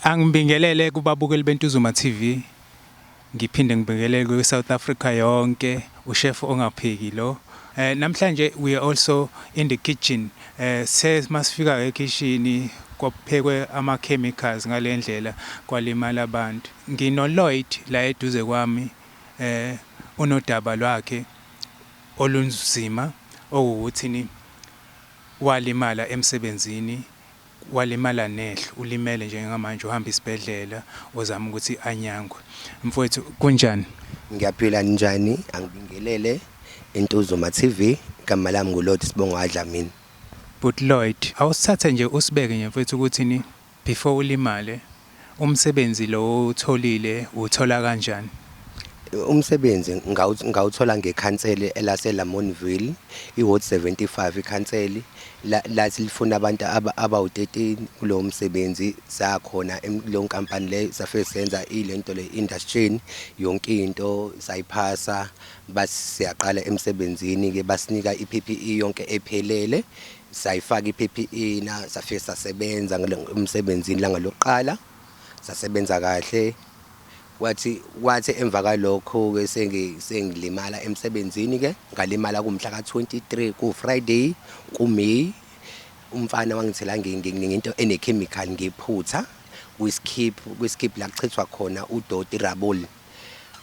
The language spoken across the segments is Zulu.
Angibingelele kubabukeli beNtuzuma TV, ngiphinde ngibingelele kwiSouth Africa yonke, uShef ongapheki lo. Eh namhlanje we are also in the kitchen. Eh se masifika ekhishini kwaphekwe ama chemicals ngalendlela kwalimala abantu. Ngino Lloyd la eduze kwami eh unodaba lwakhe olunzima okuwukuthi ni walimala emsebenzini Walimala nehlo, ulimele njengamanje uhamba isibhedlela uzama ukuthi anyangwe. Mfwethu kunjani? Ngiyaphila ninjani angibingelele Intuzuma TV igama lami ngu Lloyd Sibonga Dlamini. Bhuti Lloyd awusithathe nje usibeke nje mfwethu ukuthi ni before ulimale. Umsebenzi lo owutholile uwuthola kanjani? Umsebenzi ngawuthola ngekhanseli elase-Lamontville, iWard 75. Ikhanseli lathi lifuna abantu abawu-13 kulowo msebenzi. Saya khona kuleyo nkampani leyo, safike senza ile nto le induction, yonke into sayiphasa. Bathi siyaqala emsebenzini-ke basinika i-P_P_E yonke ephelele, Sayifaka i-PPE na safike sasebenza emsebenzini ilanga lokuqala sasebenza kahle kwathi kwathi emva kalokho ke sengilimala emsebenzini ke ngalimala kumhla ka-23 ku-Friday ku-May umfana wangithela ngento ene-chemical ngephutha kwiskip kwiskip la kuchithwa khona udoti rabol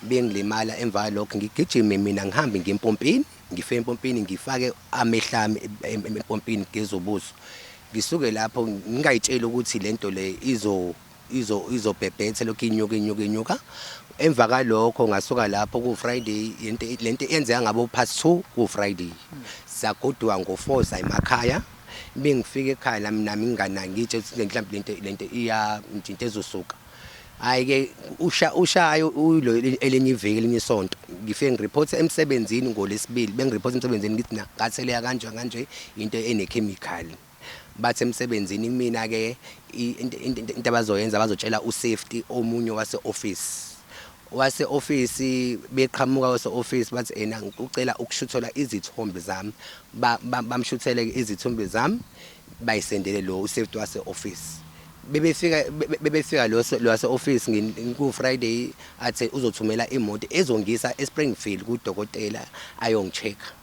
bengilimala emva kalokho ngigijime mina ngihambe ngiyempompini Ngife empompini ngifake amehlami empompini ngigeze ubuso. Ngisuke lapho ngingayitsheli ukuthi lento le izo izo izobhebhetha lokhu inyuka inyuka inyuka. Emva kalokho ngasuka lapho ku Friday lento lento yenzeka ngabo past 2 ku Friday. Sagoduka ngo 4 sayemakhaya. Bengifika ekhaya nami nami nginganangitshe ukuthi mhlambe lento lento iya into ezosuka. Hayi ke usha ushayo uyilo elinye iviki elinye isonto ngifike ngireporte emsebenzini ngolesibili bengireporte emsebenzini ngithi na katheleya kanje kanje into ene chemical bathi emsebenzini kumina ke into abazoyenza bazotshela usafety omunye wase office Wase office beqhamuka wase office bathi ena ngicela ukushuthelwa izithombe zami ba, ba, bamshuthele ke izithombe zami bayisendele lo usafety wase office bebefika bebefika lo wase office ngiku Friday athe uzothumela imoto ezongisa eSpringfield kudokotela ayongichecka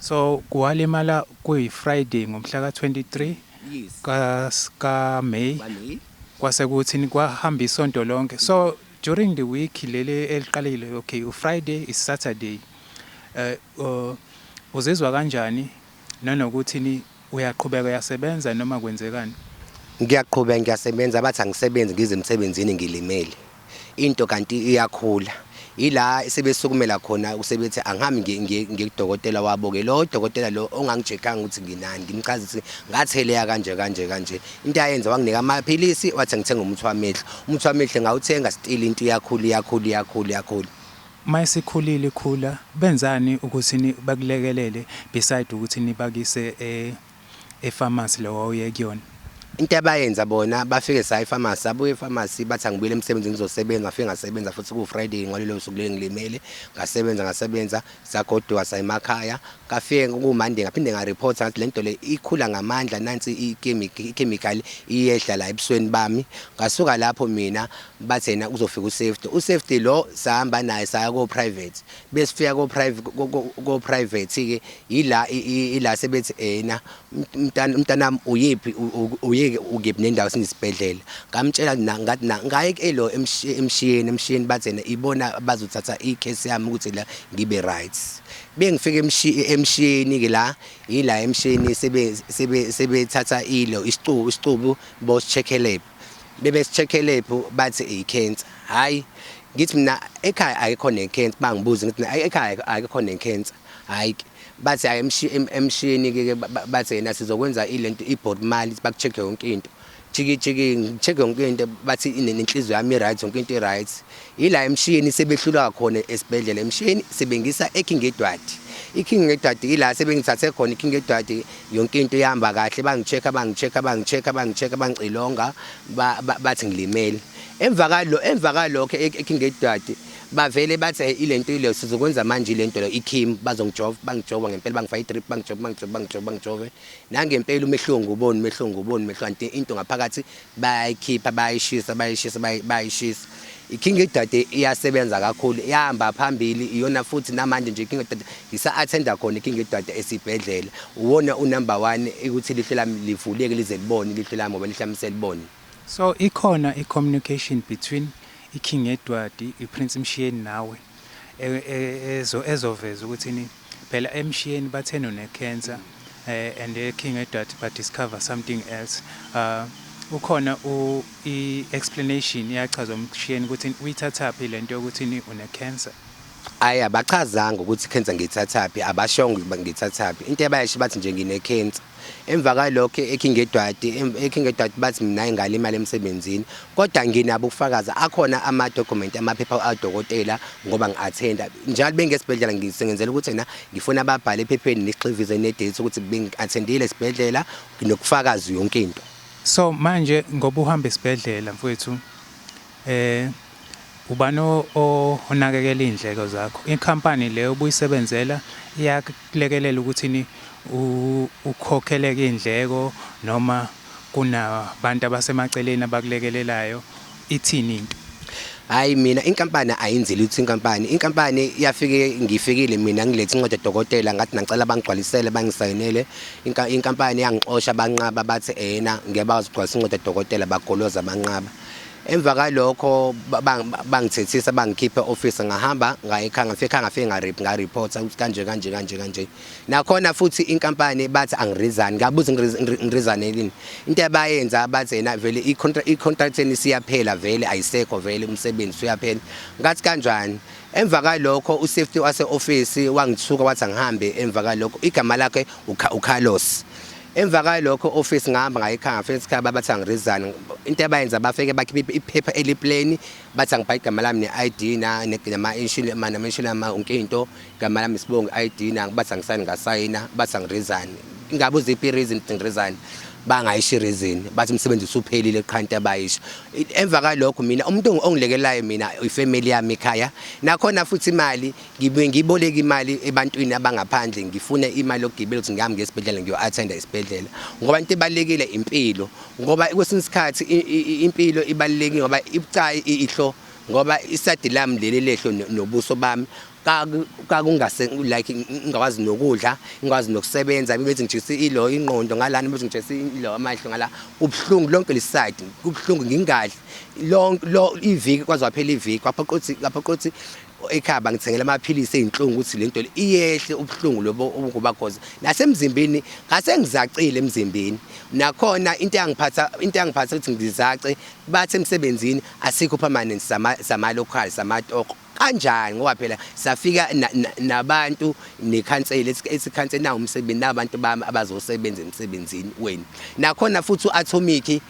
So walimala kuyi Friday ngomhla ka 23 ka ka May kwase kuthi kwahamba isonto lonke so during the week leli eliqalile okay u Friday is Saturday uh, uh uzizwa kanjani nanokuthi ni Uyaqhubeka uyasebenza noma kwenzekani? Ngiyaqhubeka ngiyasebenza bathi angisebenzi ngize emsebenzini ngilimele. Into kanti iyakhula. Ila sebesukumela khona usebethi angihambi ngiye ngiye ngiye kudokotela wabo ke lo dokotela lo ongangicheckanga ukuthi nginani ngimchaza ukuthi ngatheleya kanje kanje kanje into ayenza wanginika amaphilisi wathi ngithenga umuthi wamehlo umuthi wamehlo ngawuthenga still into iyakhula iyakhula iyakhula iyakhula Uma isikhulile ikhula benzani ukuthi bakulekelele beside ukuthi nibakise e e pharmacy le wawuye kuyona? Into abayenza bona bafike sa epharmacy sabuya epharmacy bathi angibuyele emsebenzini ngizosebenza ngafike ngasebenza futhi ku Friday ngolelo suku leli ngilimele ngasebenza ngasebenza sagoduka sayemakhaya ngafike ku Monday ngaphinde nga report ngathi lento le ikhula ngamandla nansi i chemical iyehla la ebusweni bami ngasuka lapho mina Bathi yena kuzofika usafety. Usafety lo sahamba naye saya ko private. Besifika ko private ko, ko, ko private ke yila i- i- yila sebethi yena umntana umntanami uyephi u- u- uyeke ukephi nendawo sinesibhedlela. Ngamtshela na ngathi na ngaye ke lo emshi- emshiyeni emshiyeni bathi yena ibona bazothatha i case yami ukuthi la ngibe right. Bengifika emshi- emshiyeni ke la yila emshiyeni sebe sebe sebethatha ilo isicubu isicubu bosickelela. bebesithekhelephu bathi icancer hayi ngithi mina ekhaya ayikho necancer bangibuza ngithi ekhaya ayikho necancer hayi bathi hayi emshini ke bathi yena sizokwenza ilento ibody mali baku check yonke into jiki jiki check yonke into bathi inenhliziyo yami right yonke into right Yila eMshiyeni sebehlulwa khona esibhedlela eMshiyeni sebengisa eKing Edward. IKing Edward yila sebengithathe khona iKing Edward yonke into ihamba kahle bangicheck bangicheck bangicheck bangicheck bangicilonga bathi ngilimele. Emva kalo emva kalokho eKing Edward bavele bathi hey ilento ile sizokwenza manje ilento le iKim bazongijova bangijova ngempela bangifaka idrip bangijova bangijova bangijova bangijova nangempela umehluko nguboni umehluko nguboni umehluko into ngaphakathi Bayayikhipha bayishisa bayishisa bayishisa. IKing Idade iyasebenza kakhulu, ihamba phambili, iyona futhi namanje nje iKing Idade ngisa-athenda khona iKing Idade esibhedlela. Uwona unumber one ukuthi ilihlo lami livuleke lize libone ilihlo lami ngoba ilihlo lami selibone. So ikhona i-communication between iKing Edward, iPrince Mshiyeni nawe ezoveza ukuthi Phela emshiyeni bathena une cancer and e king edat ba discover something else uh, ukhona u i explanation iyachazwa umshiyeni ukuthi uyithathaphi lento yokuthi ni une cancer Ayi abachazanga ukuthi cancer ngithathaphi abashongo ngithathaphi into ebayasho bathi nje ngine cancer Emva kwalokho eKingedwati eKingedwati bathi mina ingale imali emsebenzini kodwa nginabo ukufakaza akhona ama document amaphepha adokotela ngoba ngiattenda njalo bengesibhedlela ngisengenzela ukuthi na ngifuna ababhale ephepheni nixhivize ne date ukuthi bengiattendile esibhedlela nokufakaza yonke into So manje ngoba uhamba esibhedlela mfowethu eh Ubani onakekela iy'ndleko zakho? Ikhampani le obuyisebenzela iyakulekelela ukuthini ukhokheleke iy'ndleko noma kunabantu abasemaceleni abakulekelelayo, ithini into? Hhayi mina inkampani ayinzile ukuthi inkampani, inkampani yafike ngifikile mina ngilethe incwadi yodokotela ngathi nangicela bangigcwalisele bangisayinele. Inkampani yangixosha banqaba bathi eyena ngeke bakwazi ukugcwalisa incwadi yodokotela bagoloza banqaba. Emva kalokho bangithethisa bangikhipha e-office ngahamba ngayekhaya ngafika ekhaya ngafike ngarip ngareporta ukuthi kanje kanje kanje kanje nakhona futhi inkampani bathi angirizani ngabuza ngirizane yini into abayenza bathi yena vele i-contract yeni siyaphela vele ayisekho vele umsebenzi uyaphela ngathi kanjani emva kalokho usafety wase-office wangithuka wathi angihambe emva kalokho igama lakhe uCarlos Emva kwalokho office ngihamba ngayikhanga ngafika ekhaya babathi angiresign into abayenza bafike bakhipha iphepha elipleni bathi angibhayi igama lami ne-ID na nama inshini ma nama inshini ma onke into igama lami sibonga i-ID na bathi angisayini ngasayina bathi angiresign ingabe uziphi reason ngiresign bangayisho reason bathi umsebenzi usuphelile qha into abayisho emva kwalokho mina umuntu ongilekelayo mina ifamily yami ekhaya nakhona futhi imali Ngibuye ngiboleke imali ebantwini abangaphandle ngifune imali yokugibela ukuthi ngihambe ngesibhedlela ngiyo-athenda isibhedlela ngoba into ebalulekile impilo ngoba kwesinye isikhathi impilo ibalulekile ngoba ibucayi ihlo ngoba isadi lami leli lehlo nobuso bami kakungase like ngingakwazi nokudla ngikwazi nokusebenza bethi ngijikise ilo ingqondo ngalana bethi ngijikise ilo amahlo ngala kubuhlungu lonke lisayidi kubuhlungu ngingadli lonke lo iviki kwaze waphela iviki kwaphoqa ukuthi kwaphoqa ukuthi ekhaya bangithengela amaphilisi ezinhlungu ukuthi lento iyehle ubuhlungu lobo obukuba cause nasemzimbeni ngase ngizacile emzimbeni nakhona into yangiphatha into yangiphatha ukuthi ngizace bathe emsebenzini asikho permanent sama sama local sama toko kanjani ngoba phela safika nabantu nekhansela esikhansela nawo umsebenzi nabantu bami abazosebenza emsebenzini wenu nakhona futhi uAtomiki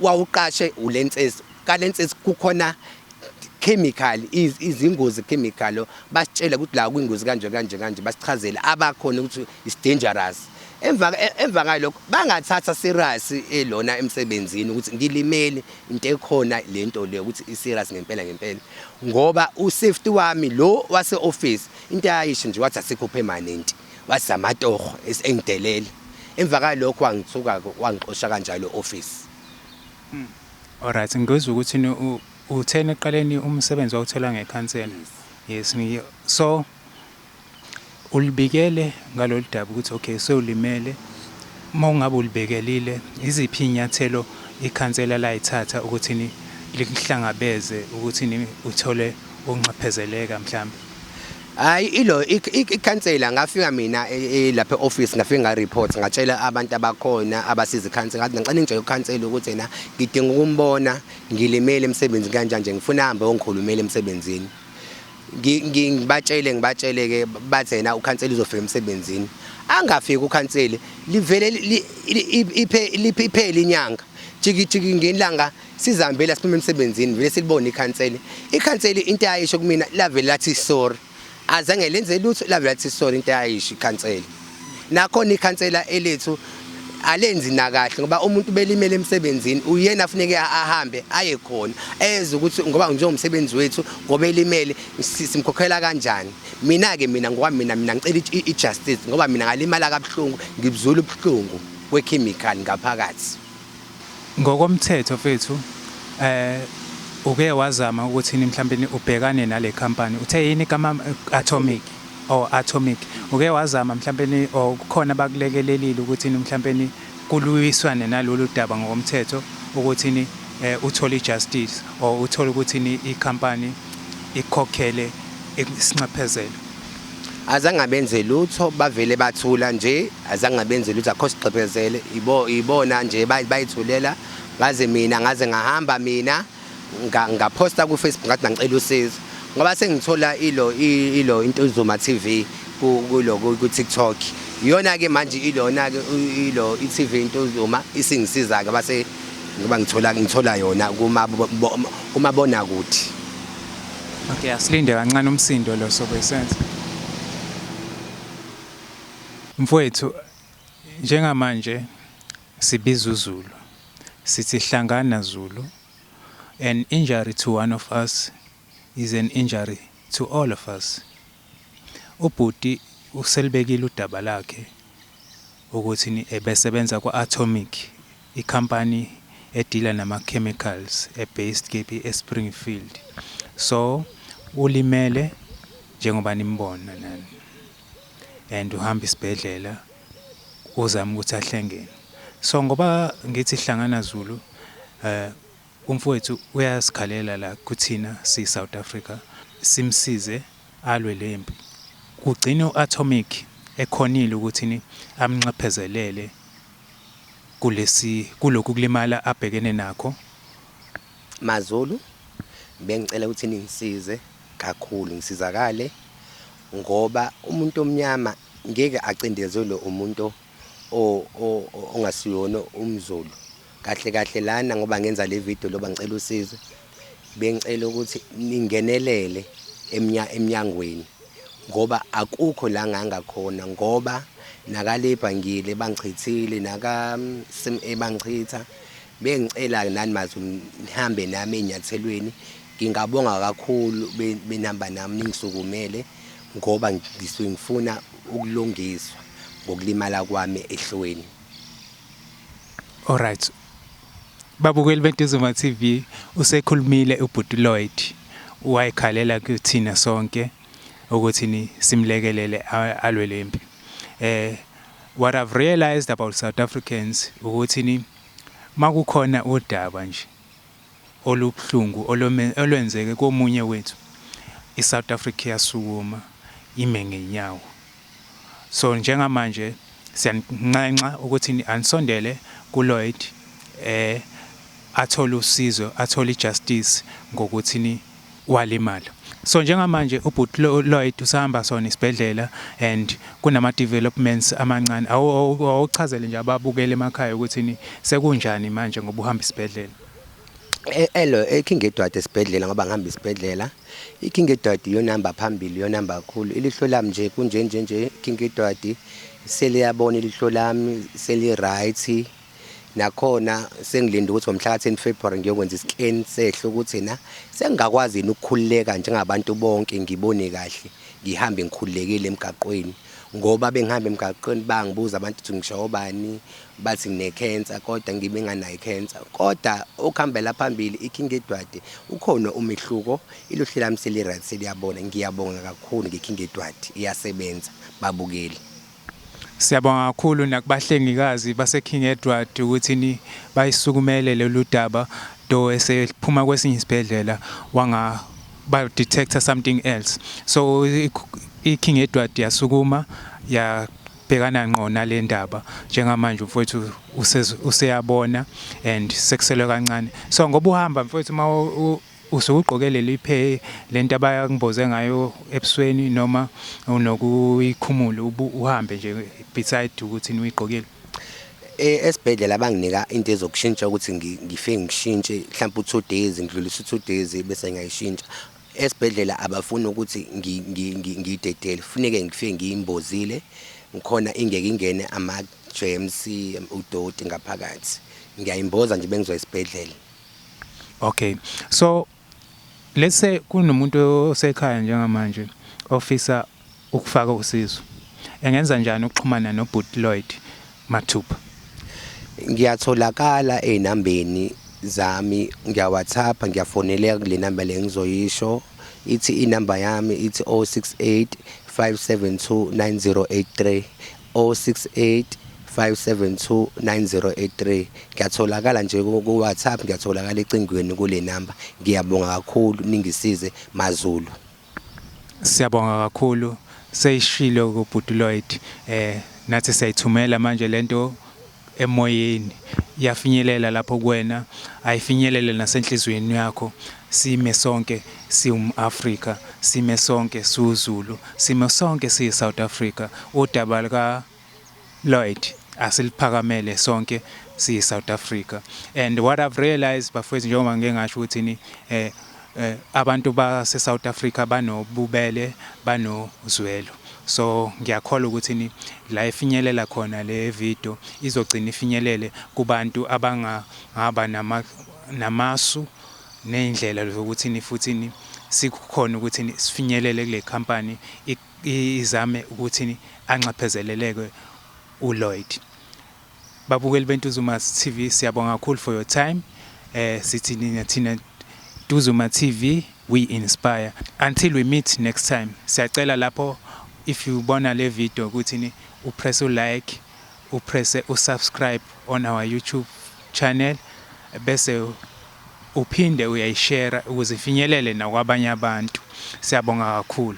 wawuqashe ulenses Kalenses kukhona chemical izingozi chemical basitshela ukuthi la kwingozi kanje kanje kanje basichazele abakhona ukuthi is dangerous emva emva ngalokho bangathatha serious elona emsebenzini ukuthi ngilimeli into ekhona lento le ukuthi i serious ngempela ngempela ngoba u safety wami lo wase office into ayisho nje wathi asikho permanent wasamatoho esengidelele emva kwalokho wangithuka wangixosha kanjalo office Alright ngizwa ukuthi ni utheni eqaleni umsebenzi wawuthola ngekhansela. Yes ngiyo. So ulibikele ngalolu daba ukuthi okay sewulimele uma ungabe ulibekelile iziphi inyathelo ikhansela layithatha ukuthi ni likuhlangabeze ukuthi ni uthole unxephezeleka mhlambe. Hayi ilo ikhansela ngafika mina e, e, lapha e-office ngafika ngareport ngatshela abantu abakhona abasiza ikhansela ngathi ngicela ngitshela ukhansela ukuthi yena ngidinga ukumbona ngilimele emsebenzini kanjani nje ngifuna ahambe ongikhulumele emsebenzini ngibatshele ngibatshele ke bathi yena ukhansela uzofika emsebenzini angafiki ukhansela livele liphele inyanga jikijiki ngelanga sizihambela siphuma emsebenzini vele silibona ikhanseli ikhanseli into ayisho kumina lavele lathi sorry azange lenze lutho lavele lathi sorry into ayisho ikhanseli nakhona ikhansela elethu alenzi nakahle ngoba umuntu belimele emsebenzini uyena afuneke ahambe aye khona eze ukuthi ngoba njengomsebenzi wethu ngoba elimele simkhokhela kanjani mina ke mina ngoba mina mina ngicela i-justice ngoba mina ngalimala kabuhlungu ngibuzula ubuhlungu we-chemical ngaphakathi Ngokomthetho mfethu um uke wazama ukuthini mhlawumbe ubhekane nale company uthe yini igama atomic or atomic uke wazama mhlawumbe or kukhona bakulekelelile ukuthi mhlawumbe kuluyiswane nalolu daba ngokomthetho ukuthi um eh, uthole ijustice or uthole ukuthi ikhampani ikhokhele isinxephezelo azange abenze lutho bavele bathula nje azange abenze lutho akho sigqebhezele ibo ibona nje bayithulela ngaze mina ngaze ngahamba mina ngaphosta ku Facebook ngathi ngicela usizo ngoba sengithola ilo ilo into izuma TV kulo ku TikTok iyona ke manje ilona ke ilo i TV into izuma isingisiza ke base ngoba ngithola ngithola yona kuma kumabona kuthi Okay, asilinde kancane umsindo lo sobe sense. Mfowethu njengamanje sibiza uZulu. Sithi hlangana Zulu. An injury to one of us is an injury to all of us. Ubhuti uselibekile udaba lakhe ukuthi ebesebenza kwa-Atomic, ikhampani edila nama-chemicals e-based kephi e-Springfield. So ulimele njengoba nimbona nani and uhamba isibhedlela uzama ukuthi ahlengene. So ngoba ngithi Hlangana Zulu, eh, Umfowethu uyasikhalela la kuthina siyi South Africa simsize alwe lempi. Kugcine u Atomic ekhonile ukuthini amnxephezelele kulesi kulokhu kulimala abhekene nakho. MaZulu bengicela ukuthi ningisize kakhulu ngisizakale ngoba umuntu omnyama ngeke acindezelwe umuntu ongasiyona umzulu kahle kahle lana ngoba ngenza le video loba ngicela usizo bengicela ukuthi ningenelele emnyangweni ngoba akukho la ngangakhona ngoba nakalebha ngile bangichithile naka-cma mm, bangichitha bengicela nani mazi nihambe nami ey'nyathelweni ngingabonga kakhulu benihamba nami ningisukumele Ngoba ngisuke ngifuna ukulungiswa ngokulimala kwami ehlweni. Alright. Babukeli beNtuzuma TV usekhulumile ubhuti Lloyd wayekhalela kuthina sonke ukuthi ni simlekelele alwe lempi. Eh what I've realized about South Africans ukuthi ni makukhona udaba nje olubuhlungu olwenzeke komunye wethu i South Africa iyasukuma ime ngenyawo so njengamanje siyaninxenxa ukuthi anisondele ku Lloyd eh athole usizo athole ijustice ngokuthi ni walimala so njengamanje ubhuti Lloyd usahamba sona isibhedlela and kunama developments amancane awuchazele nje ababukele emakhaya ukuthi sekunjani manje ngoba uhamba isibhedlela e, elo eking edwadi esibhedlela ngoba ngihamba isibhedlela iking edwadi iyonamba phambili iyonamba kakhulu ilihlo lami nje kunje nje nje iking edwadi seliyabona ilihlo lami seli right Nakhona sengilinde ukuthi ngomhlaka 10 February ngiyokwenza iscan sehlo ukuthi na sengingakwazi yini ukukhululeka njengabantu bonke ngibone kahle ngihambe ngikhululekile emgaqweni ngoba bengihamba emgaqweni bangibuza abantu ukuthi ngisho obani bathi ngine cancer kodwa ngibe nganayo cancer kodwa okuhambela phambili iking edwade ukhona umehluko iluhle lami selirad seliyabona ngiyabonga kakhulu ngeking edwade iyasebenza babukeli Siyabonga kakhulu nakubahlengikazi baseKing Edward ukuthi ni bayisukumele lolu daba though esephuma kwesinye isibhedlela wanga ba detector something else so iKing Edward yasukuma ya bhekana ngqo nale ndaba njengamanje mfowethu useyabona and sekuselwe kancane so ngoba uhamba mfowethu uma Usuke ugqoke leli phe lento abakumboze ngayo ebusweni noma unokuyikhumula uhambe nje beside ukuthi nuyigqokile e, esibhedlela banginika into ezokushintsha ukuthi ngife ngishintshe mhlawumbe u-two days ngidlulise u-two days bese ngiyayishintsha esibhedlela abafuni ukuthi ngiyidedele funeke ngife ngiyimbozile ngikhona ingeke ingene ama-germs udoti ngaphakathi ngiyayimboza nje bengizoya esibhedlela Okay. So let's say kunomuntu osekhaya njengamanje ofisa ukufaka usizo. Engenza njani ukuxhumana noBhuti Lloyd mathupha? Ngiyatholakala ezinambeni zami ngiya WhatsApp ngiyafoneleka kule number le ngizoyisho ithi inamba yami ithi 068 572 9083 068 572 9083 ngiyatholakala nje ku WhatsApp ngiyatholakala ecingweni kule number ngiyabonga kakhulu ningisize maZulu Siyabonga kakhulu seyishilo kubhuti Lloyd eh nathi siyayithumela manje lento Emoyeni, iyafinyelela lapho kuwena, ayifinyelele nasenhliziyweni yakho. Sime sonke siwum-Afrika, sime sonke siwuZulu, sime sonke siyiSouth Africa. Udaba luka Lloyd asiliphakamele sonke siyiSouth Africa. And what I've realized bafowethu njengoba ngike ngasho ukuthi ni eh Abantu base South Africa banobubele banozwelo so ngiyakholwa ukuthini la ifinyelela khona le video izogcina ifinyelele kubantu abangangaba nama namasu ney'ndlela zokuthini futhini sikukhona ukuthi sifinyelele kule company izame ukuthi anxephezeleleke uLloyd. Babukeli beNtuzuma's TV siyabonga kakhulu for your time. Eh sithi nina thina Ntuzuma TV we inspire. Until we meet next time. Siyacela lapho if you bona le video ukuthi ni upress u like, upress u subscribe on our YouTube channel bese uphinde uyayishare ukuze ifinyelele nakwabanye abantu. Siyabonga kakhulu.